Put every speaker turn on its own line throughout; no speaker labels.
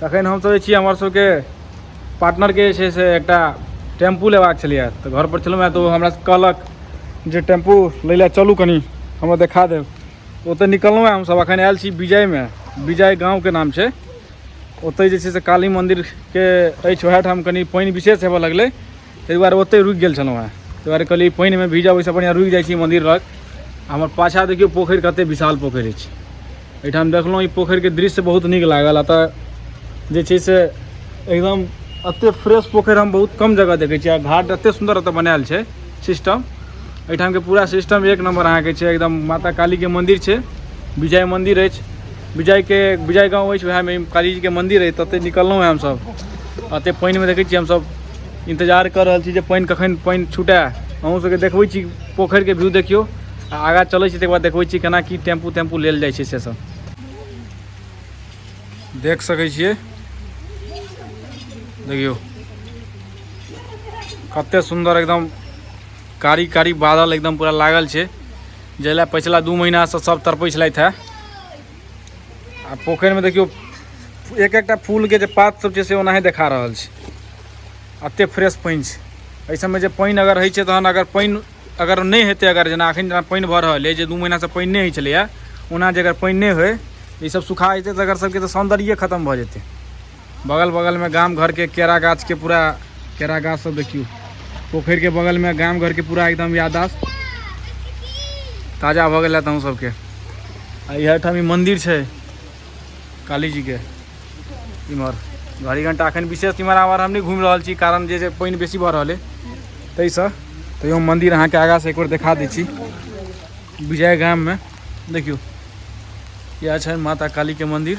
तखन हम सोचै छी हमर सबके पार्टनरके जे छै से एकटा टेम्पू लेबाक छलैए तऽ घरपर छलहुँ हँ तऽ ओ हमरा कहलक जे टेम्पू लै लए चलू कनि हमरा देखा देब ओतऽ निकललहुँ हँ हमसब अखन आयल छी विजयमे विजय गाँवके नाम छै ओतऽ जे छै से काली मन्दिरके अछि ओएह ठाम कनि पानि विशेष हेबऽ लगलै ताहि दुआरे ओतहि रुकि गेल छलहुँ हेँ ताहि दुआरे कहलियै पानिमे भीजब ओहिसँ बढ़िआँ रुकि जाइ छी मन्दिर लग हमर पाछाँ देखियौ पोखरि कतेक विशाल पोखरि अछि एहिठाम देखलहुँ ई पोखरिके दृश्य बहुत नीक लागल आ तऽ जे छै से एकदम एतेक फ्रेश पोखरि हम बहुत कम जगह देखै छियै आ घाट एतेक सुन्दर एतय बनायल छै सिस्टम एहिठामके पूरा सिस्टम एक नम्बर अहाँके छै एकदम माता कालीके मन्दिर छै विजय मन्दिर अछि विजयके विजय गाँव अछि उएहमे कालीजीके मन्दिर अछि ततहि निकललहुँ हेँ हमसभ एतेक पानिमे देखै छियै हमसभ इन्तजार कऽ रहल छी जे पानि कखन पानि छुटए अहूँसभके देखबै छी पोखरिके व्यू देखियौ आ आगाँ चलै छी तकर बाद देखबै छी केना की टेम्पू तेम्पू लेल जाइ छै से सभ देख सकै छियै देखियौ कतेक सुन्दर एकदम कारी कारी बादल एकदम पूरा लागल छै जाहि लए पछिला दू महीनासँ सभ तड़पै छलथि हे आ पोखरिमे देखियौ एक एकटा फूलके जे पात सब छै से ओनाही देखा रहल छै एतेक फ्रेश पानि छै एहि सबमे जे पानि अगर होइ छै तहन अगर पानि अगर नहि हेतै अगर जेना एखन जेना पानि भऽ रहल अइ जे दू महीनासँ पानि नहि होइ छलैए ओना जे अगर पानि नहि होइ ई सब सुखा जेतै तऽ एकर सबके तऽ सौन्दर्ये खतम भऽ जेतै बगल बगलमे गाम घरके केरा गाछके पूरा केरा गाछ सब देखियौ पोखरिके बगलमे गाम घरके पूरा एकदम याददाश्त ताजा भऽ गेल हँ तहूँ सबके आ इहर ठाम ई मन्दिर छै कालीजीके इम्हर घड़ी घंटा अखन विशेष इम्हर आम्हर हम नहि घुमि रहल छी कारण जे पानि बेसी भऽ रहल अइ ताहिसँ तैयो मन्दिर अहाँके आगाँसँ एक बेर देखा दै छी विजय गाममे देखियौ इएह छनि माता कालीके मन्दिर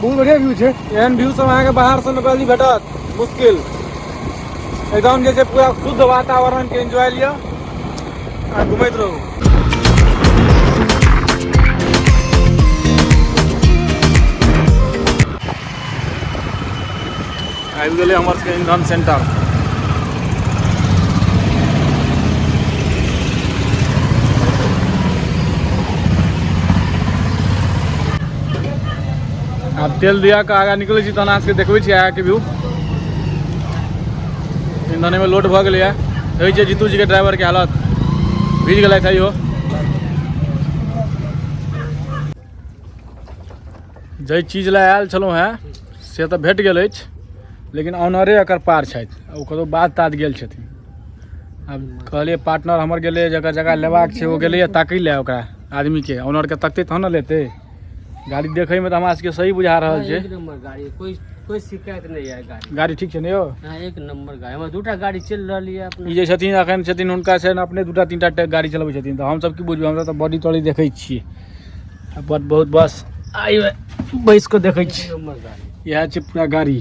बहुत बढ़िया व्यू छै एहन व्यू सब अहाँके बाहर से निकलि भेटत मुश्किल एकदम जे छै पूरा शुद्ध वातावरण के एंजॉय लिअ आ घुमैत रहू आबि गेलै हमर सबके इंधन सेंटर आब तेल दिया के आगा निकलै छी तहन अहाँ सबके देखबै छी आगाके व्यू इंधनेमे लोड भऽ गेलैए देखै छियै जीतू जीके ड्राइवरके हालत भीज गेलथि है इहो जाहि चीज लए आयल छलहुँ हेँ से तऽ भेट गेल अछि लेकिन ऑनरे एकर पार छथि ओ कतहु बात तात गेल छथिन आब कहलियै पार्टनर हमर गेलै जकर जगह लेबाक छै ओ गेलैए ताकि लए ओकरा आदमीके ऑनरके तकतै तहन ने लेतै गाड़ी देखैमे तऽ हमरा सबके सही बुझा रहल छै गाड़ी कोइ कोइ
शिकायत नहि यऽ गाड़ी गाड़ी ठीक छै ने यौ हाँ, एक
नंबर गाड़ी
हमरा दूटा गाड़ी चलि रहल यऽ अपने ई जे छथिन एखन छथिन
हुनका छनि अपने दूटा तीनटा गाड़ी चलबै छथिन तऽ हमसब की बुझबै हमसब तऽ बॉडी तॉडी देखै छियै बहुत बहुत बस आइ बैस कऽ देखै छी इएह
छै पूरा गाड़ी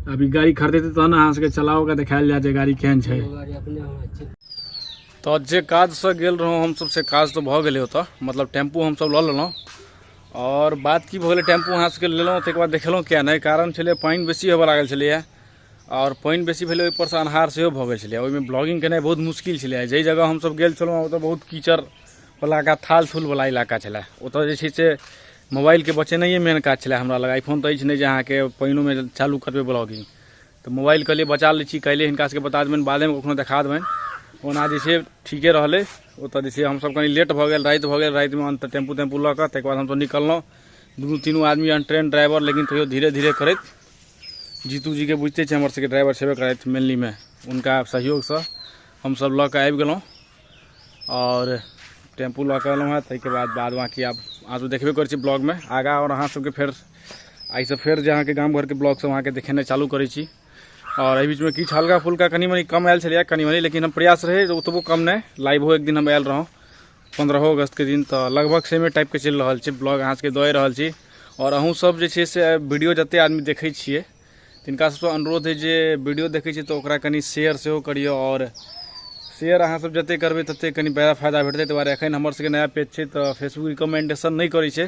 अभी गाड़ी खरीदेतै तहन अहाँ सबके चला कऽ देखायल जाय जे गाड़ी केहन छै
तऽ जे
काजसँ गेल रहौँ हमसब से काज तऽ भऽ गेलै ओतऽ मतलब टेम्पू हमसब लऽ लेलहुँ आओर बात की भऽ गेलै टेम्पू अहाँ सबके लेलहुँ ताहिके बाद देखेलहुँ किया नहि कारण छलै पानि बेसी होबऽ लागल छलैए आओर पानि बेसी भेलै ओहिपरसँ अन्हार सेहो भऽ गेल छलै ओहिमे ब्लॉगिंग केनाइ बहुत मुश्किल छलै जाहि जगह हमसब गेल छलहुँ ओतऽ बहुत कीचड़ इलाका थाल थूल वाला इलाका छलै ओतऽ जे छै से मोबाइलके बचेनाइए मेन काज छलै हमरा लग आइफोन तऽ अछि नहि जे अहाँके पानिओमे चालू करबै ब्लॉगिंग तऽ मोबाइल कहलिए बचा लै छी काल्हि हिनका सबके बता देबनि बादेमे कखनो देखा देबनि ओना जे छै ठीके रहलै ओतऽ जे छै हमसब कनि लेट भऽ गेल राति भऽ गेल रातिमे अन्त टेम्पू तेम्पू लऽ कऽ ताहिके बाद हमसब निकललहुँ दुनू तीनू आदमी ट्रेन ड्राइवर लेकिन तैयो धीरे धीरे करैत जीतूजीके बुझिते छै हमर सबके ड्राइवर छेबे करथि मेनलीमे हुनका सहयोगसँ हमसब लऽ कऽ आबि गेलहुँ आओर टेम्पू लऽ कऽ एलहुँ हँ ताहिके बाद बाद बाकी आब अहाँ सब देखबे करै छी ब्लॉगमे आगाँ आओर अहाँ सबके फेर आइसँ फेर जे अहाँके गाम घरके ब्लॉग सब अहाँके देखेनाइ चालू करै छी आओर एहि बीचमे किछु हल्का फुल्का कनि मनि कम आयल छलैए कनि मनि लेकिन हम प्रयास रहै ओतबो कम नहि लाइवो एक दिन हम आयल रहौँ पन्द्रहो अगस्तके दिन तऽ लगभग सेमे टाइपके चलि रहल छै ब्लॉग अहाँ सबके दए रहल छी आओर अहूँ सब जे छै से वीडियो जते आदमी देखै छियै तिनका सबसँ अनुरोध अछि जे वीडियो देखै छी तऽ ओकरा कनि शेयर सेहो करियौ आओर शेयर अहाँ सब जते करबै तते कनि बड़ा फायदा भेटतै ताहि दुआरे एखन हमर सबके नया पेज छै तऽ फेसबुक रिकमेंडेशन नहि करै छै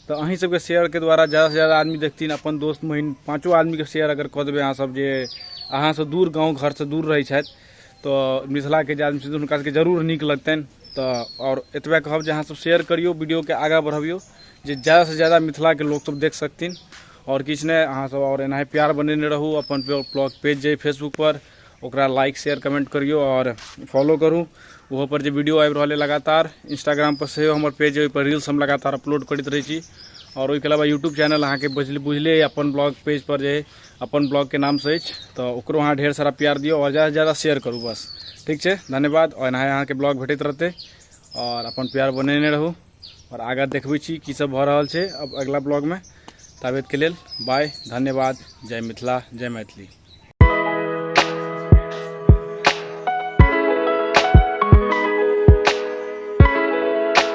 तऽ अहीं सबके शेयर के द्वारा ज्यादा से ज्यादा आदमी देखथिन अपन दोस्त महीन पाँचो आदमी के शेयर अगर कऽ देबै अहाँ सब जे अहाँ सब दूर गाँव घर से दूर रहै छथि तऽ मिथिला के जे आदमी छथिन हुनका सबके जरूर नीक लगतनि तऽ आओर एतबे कहब जे अहाँ सब शेयर करियौ वीडियो के आगाँ बढ़बियौ जे ज्यादा से ज्यादा मिथिला के लोक सब देख सकथिन आओर किछु नहि अहाँसभ आओर एनाहि प्यार बनेने रहू अपन ब्लॉग पेज जे फेसबुकपर ओकरा लाइक शेयर कमेंट करियौ आओर फॉलो करू ओहोपर जे वीडियो आबि रहल अइ लगातार इंस्टाग्रामपर सेहो हमर पेज अइ ओहिपर रील्स हम लगातार अपलोड करैत रहै छी आओर ओहिके अलावा यूट्यूब चैनल अहाँके बुझले बुझले अइ अपन ब्लॉग पेजपर जे अइ अपन ब्लॉगके नामसँ अछि तऽ ओकरो अहाँ ढेर सारा प्यार दियौ आओर ज्यादासँ ज्यादा शेयर करू बस ठीक छै धन्यवाद आओर एनाहि अहाँके ब्लॉग भेटैत रहतै आओर अपन प्यार बनेने रहू आओर आगाँ देखबै छी की सब भऽ रहल छै अब अगिला ब्लॉगमे ताबेतके लेल बाय धन्यवाद जय मिथिला जय मैथिली